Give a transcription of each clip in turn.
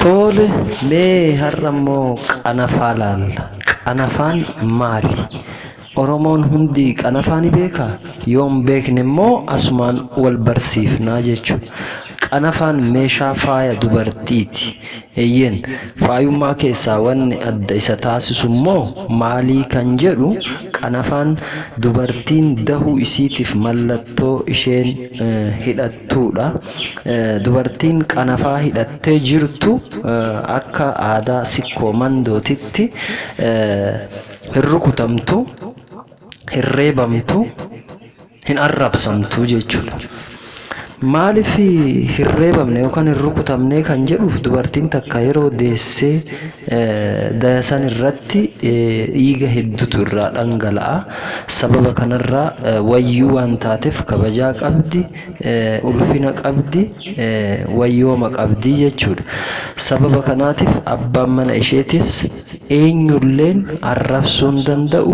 Tole mee har'a immoo qanafaa laalla. Qanafaan maali? Oromoon hundi qanafaa ni beekaa? Yoo hin beekne immoo asumaan wal barsiifnaa jechuudha. Qanafaan meeshaa faaya dubartiiti. Eeyyeen, faayummaa keessaa wanni adda isa taasisu immoo maalii kan jedhu qanafaan dubartiin dahuu isiitiif mallattoo isheen hidhattuudha. Dubartiin qanafaa hidhattee jirtu akka aadaa sikkoo mandootitti hin rukutamtu, hin reebamtu. hin arrabsamtu jechuudha. Maaliif hin reebamne yookaan hin rukutamne kan jedhuuf dubartiin takka yeroo deessee daya san irratti dhiiga heddutu irraa dhangala'a. Sababa kanarraa wayyuu waan taateef kabajaa qabdi, ulfina qabdi, wayyooma qabdi jechuudha. Sababa kanaatiif abbaan mana isheetis Eenyulleen arrabsuu hin danda'u,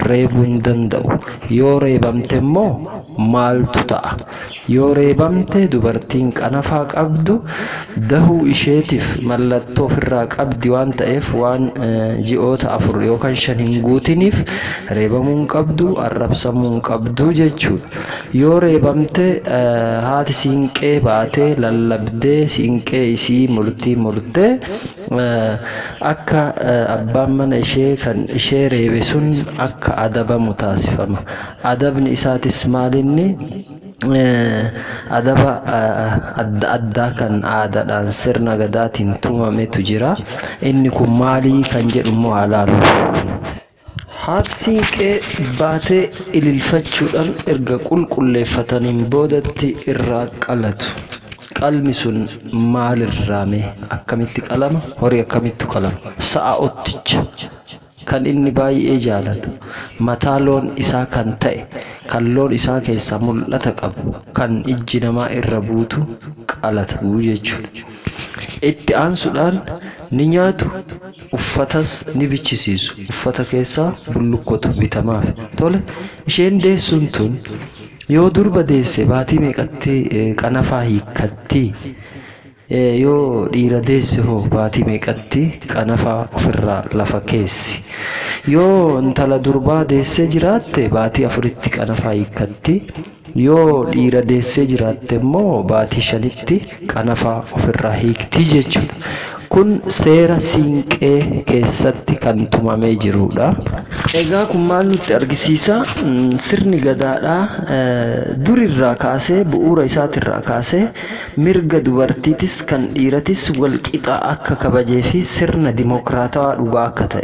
reebuu hin danda'u. Yoo reebamte immoo maaltu ta'a? Yoo reebamte dubartiin qanafaa qabdu dahuu isheetiif mallattoo ofirraa qabdi waan ta'eef waan ji'oota afur yookaan shan hin guutiniif reebamuu hin qabdu, arrabsamuu hin qabdu jechuudha. Yoo reebamte haati siinqee baatee lallabdee siinqee isii murtii murtee. Akka abbaan mana ishee kan ishee reebe sun akka adabamu taasifama. Adabni isaatis maalinni? Adaba adda addaa kan aadaadhaan sirna gadaatiin tumametu jira. Inni kun maali kan jedhu immoo haa laallu. Haati Siinqee baatee ililfachuudhaan erga qulqulleeffataniin boodatti irraa qalatu. Qalmi sun maalirraa mee? Akkamitti qalama? Horii akkamittu qalama? Sa'a otticha kan inni baay'ee jaalatu, mataa loon isaa kan ta'e, kan loon isaa keessaa mul'ata qabu, kan ijji namaa irra buutu qalatu jechuudha. Itti aansuudhaan ni nyaatu, Uffatas ni bichisiisu. Uffata keessaa bullukkotu bitamaafi. Tole, isheen deessuun tun yoo durba deesse baatii meeqatti qanafaa hiikkatti? Yoo dhiira deesse hoo baatii meeqatti qanafaa ofirraa lafa keessi? Yoo intala durbaa deessee jiraatte baatii afuritti qanafaa hiikkatti. Yoo dhiira deessee jiraatte immoo baatii shanitti qanafaa ofirraa hiikti jechuudha. Kun seera Siinqee keessatti kan tumamee jiruudha. Egaa kun maal nutti argisiisa? Sirni Gadaadhaa durirraa kaasee, bu'uura isaatirraa kaasee mirga dubartiitis kan dhiiratis walqixa akka kabajeefi sirna dimokiraatawaa dhugaa akka ta'e.